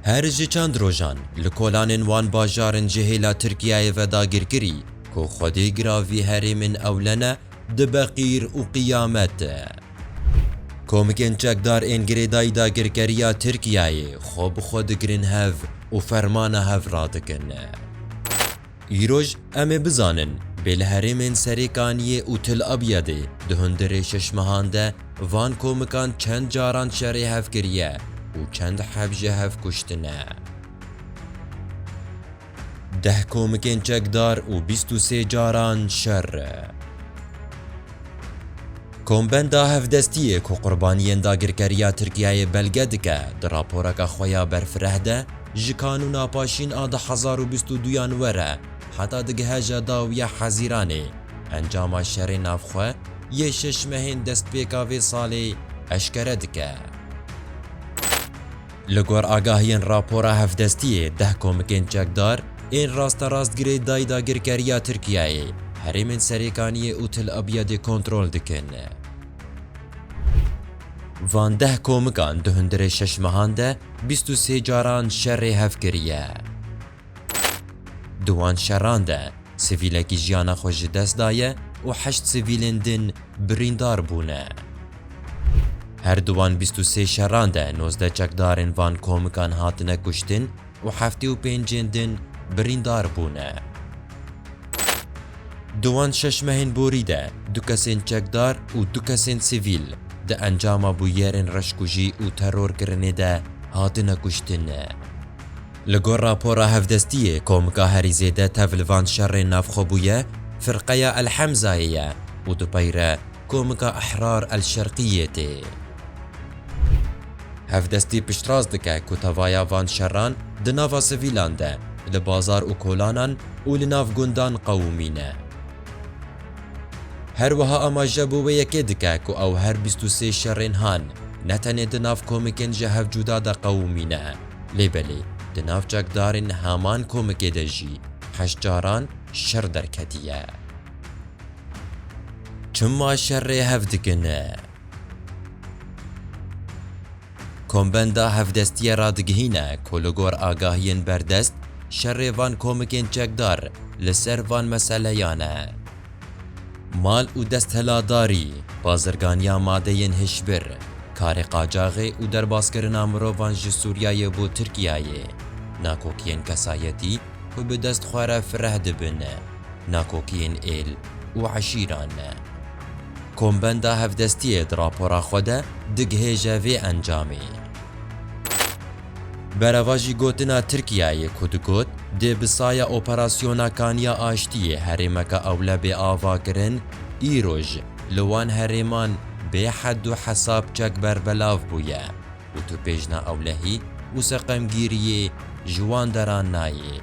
Her ji çend rojan li kolanên wan bajarin ji hêla Tirkiyeyê ve dagirkirî ku xwedê giravî herêmên ewlene dibe qîr û qiyamet. Komikên çekdar ên girêdayî dagirkeriya Tirkiyeyê xwe bi xwe digirin hev û fermana hev radikin. Îroj em ê bizanin, bê li herêmên Serêkaniyê û Til Abyadê di hundirê şeş mehan de van komikan çend caran şerê hev kiriye û çend heb ji hev kuştine. Deh komikên çekdar û bîst û sê caran şer. Kombenda Hevdestiyê ku qurbaniyên dagirkeriya Tirkiyeyê belge dike di raporeke xwe ya berfireh de, Ji kanûna paşîn a du hezar û bîst û du yan were heta digihe ja dawiya Hezîranê, encama şerê navxwe yê şeş mehên destpêka vê salê eşkere dike. Li gor agahiyên rapora hevdestiyê deh komikên çekdar ên rasterast girê dayî dagirkeriya Tirkiyeyê herêmên Serêkaniyê û Til Abyadê kontrol dikin. Van deh komikan di hundirê şeş mehan de bîst û sê caran şerê hev kiriye. Di wan şeran de sivîlekî jiyana xwe ji dest daye û heşt sivîlên din birîndar bûne. Her di wan bîst û sê şeran de nozdeh çekdarên van komikan hatine kuştin, û heftê û pêncên din birîndar bûne. Di wan şeş mehên borî de du kesên çekdar û du kesên sivîl di encama bûyerên reşkujî û terorkirinê de hatine kuştin. Li gor rapora hevdestiyê komka herî zêde tev li van şerên navxwe bûye Firqeya El Hemzayê ye û dupeyre komka Ehrar El Şerqiyê tê. Hevdestî piştrast dike ku tevaya van şeran di nava sivîlan de, li bazar û kolanan û li nav gundan qewimîn e. Her wiha amaje bo wê yekê dike ku ew her bîst û sê şerên han ne tenê di nav komikên ji hev cuda de qewimî ne, lê belê di nav çekdarên heman komikê de jî heşt caran şer derketiye. Çima şerê hev dikin? Kombenda Hevdestiyê radigihîne ku li gor agahiyên berdest, şerê van komikên çekdar li ser van meseleyan e. Mal û destheladarî, bazirganiya madeyên hişbir, karê qacaxê û derbaskirina mirovan ji Sûriyeyê bo Tirkiyeyê, nakokiyên kesayetî ku bi dest xwe re fireh dibin, nakokiyên êl û eşîran. Kombenda Hevdestiyê di rapora xwe de digihêje vê encamê. Berevajî gotina Tirkiyeyê ku digot dê bi saya operasyona Kaniya Aştiyê herêmeke ewle bê avakirin, îroj li wan herêman bê hed û hesab çek berbelav bûye. û tu pêjna ewlehî û seqemgîriyê ji wan deran nayê.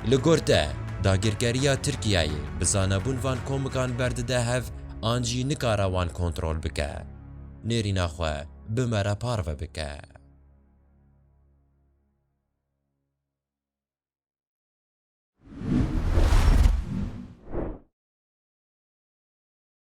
Li gor te, dagirkeriya Tirkiyeyê bi zanebûn van komikan berdide hev an jî nikare wan kontrol bike. Nêrîna xwe bi me re parve bike.